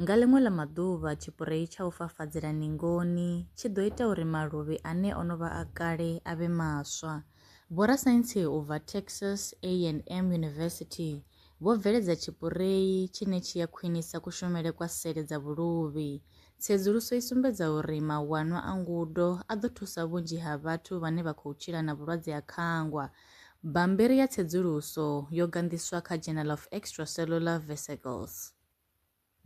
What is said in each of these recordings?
Nga ḽiṅwe ḽa maḓuvha tshipurei tsha u fafadzela ningoni tshi ḓo ita uri maluvhi ane o no vha a kale a vhe maswa. Vhorasaintsi u bva Texas A&M University vho bveledza tshipurei tshine tshi a khwinisa kushumele kwa sele dza vhuluvhi. Tsedzuluso i sumbedza uri mawanwa a ngudo a ḓo thusa vhunzhi ha vhathu vhane vha khou tshila na vhulwadze ha khangwa. Bammbiri ya tsedzuluso yo ganḓiswa kha Journal of Extracellular Vesicles.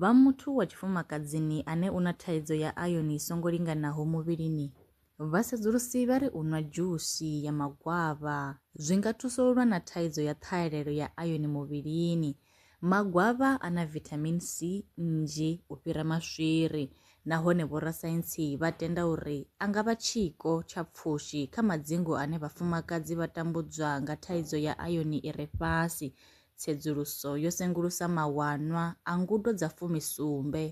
Vha muthu wa tshifumakadzini ane u na thaidzo ya ayoni i songo linganaho muvhilini, vhasedzulusi vha ri u nwa dzhusi ya magwavha zwi nga thusa u lwa na thaidzo ya ṱhahelelo ya ayoni muvhilini. Magwavha a na vithamini C nnzhi u fhira maswiri nahone vhorasaintsi vha tenda uri a nga vha tshiko tsha pfushi kha madzingu ane vhafumakadzi vha tambudzwa nga thaidzo ya ayoni i re fhasi Tsedzuluso yo sengulusa mawanwa a ngudo dza fumi-sumbe,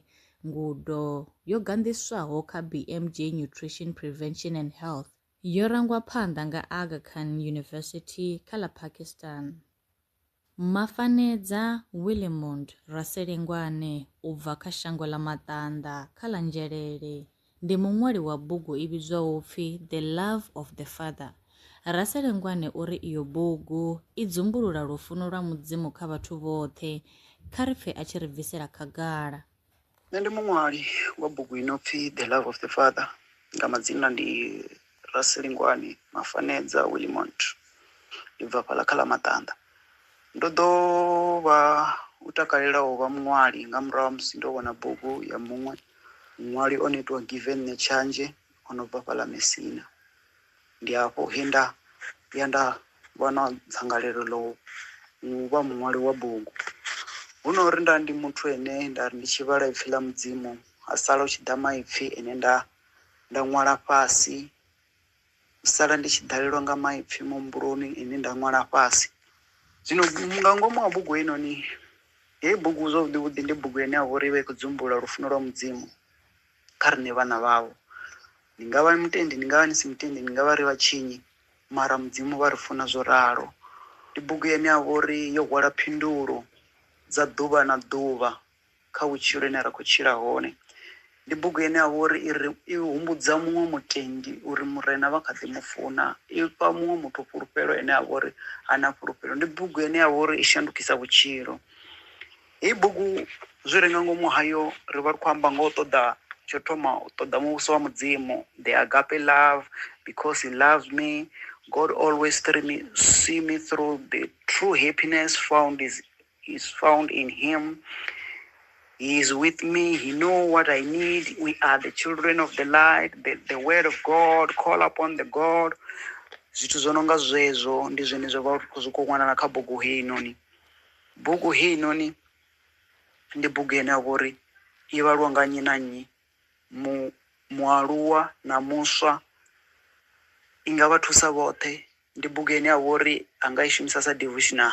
ngudo yo ganḓiswaho kha BMJ Nutrition Prevention and Health, yo rangwa phanḓa nga Aga Khan University kha ḽa Pakistan. Mafanedza Willemond Raselengwane u bva kha shango ḽa Maṱanḓa kha ḽa Nzhelele, ndi muṅwali wa bugu i vhidzwaho pfi The Love of the Father. Raselengwane o ri iyo bugu i dzumbulula lufuno lwa Mudzimu kha vhathu vhoṱhe. Kha ri pfe a tshi ri bvisela khagala. Nṋe ndi muṅwali wa bugu i no pfi The Love of the Father. Nga madzina ndi Rasilingwani Mafanedza Willimont, ndi bva fhaḽa kha ḽa Maṱanda. Ndo ḓo vha u takalela u vha muṅwali nga murahu ha musi ndo vhona bugu ya muṅwe muṅwali o no itiwa Given Netshanzhe o no bva fhaḽa Mesina. Ndi afho he nda ya nda vha na dzangalelo ḽa u vha muṅwali wa bugu. Hu no uri nda ndi muthu ane nda ri ndi tshi vhala Ipfi ḽa Mudzimu ha sala hu tshi ḓa maipfi ane nda nda ṅwala fhasi, u sala ndi tshi ḓalelwa nga maipfi muhumbuloni ane nda ṅwala fhasi. Zwino nga ngomu ha bugu heinoni, heyi bugu zwavhuḓi vhuḓi ndi bugu ine ya vha uri i vha i khou dzumbulula lufuno lwa Mudzimu kha riṋe vhana vhawe. Ni nga vha mutendi, ni nga vha ni si mutendi, ni nga vha ri vhatshinyi mara Mudzimu vha ri funa zwo ralo. Ndi bugu ine ya vha uri yo hwala phindulo dza ḓuvha na ḓuvha kha vhutshilo ine ra khou tshila hone. Ndi bugu ine ya vha uri i ri i humbudza muṅwe mutendi uri Murena vha kha ḓi mu funa, i fha muṅwe muthu fhulufhelo ene a vha uri ha na fhulufhelo. Ndi bugu ine ya vha uri i shandukisa vhutshilo. Heyi bugu zwi re nga ngomu hayo ri vha ri khou amba nga u ṱoḓa, tsho thoma u ṱoḓa muvhuso wa Mudzimu, the agape love, because he loves me, God always through me, see me through, the true happiness found is is found in him he is with me he know what i need we are the children of the light the, the word of god call upon the god zwithu zwo no nga zwezwo ndi zwine zwa vha zwi khou wanala kha bugu heinoni bugu heinoni ndi bugu ine ya vha uri i vhalwa nga nnyi na nnyi mu mualuwa na muswa i nga vha thusa vhoṱhe ndi bugu ine ya vha uri a nga i shumisa sa devotional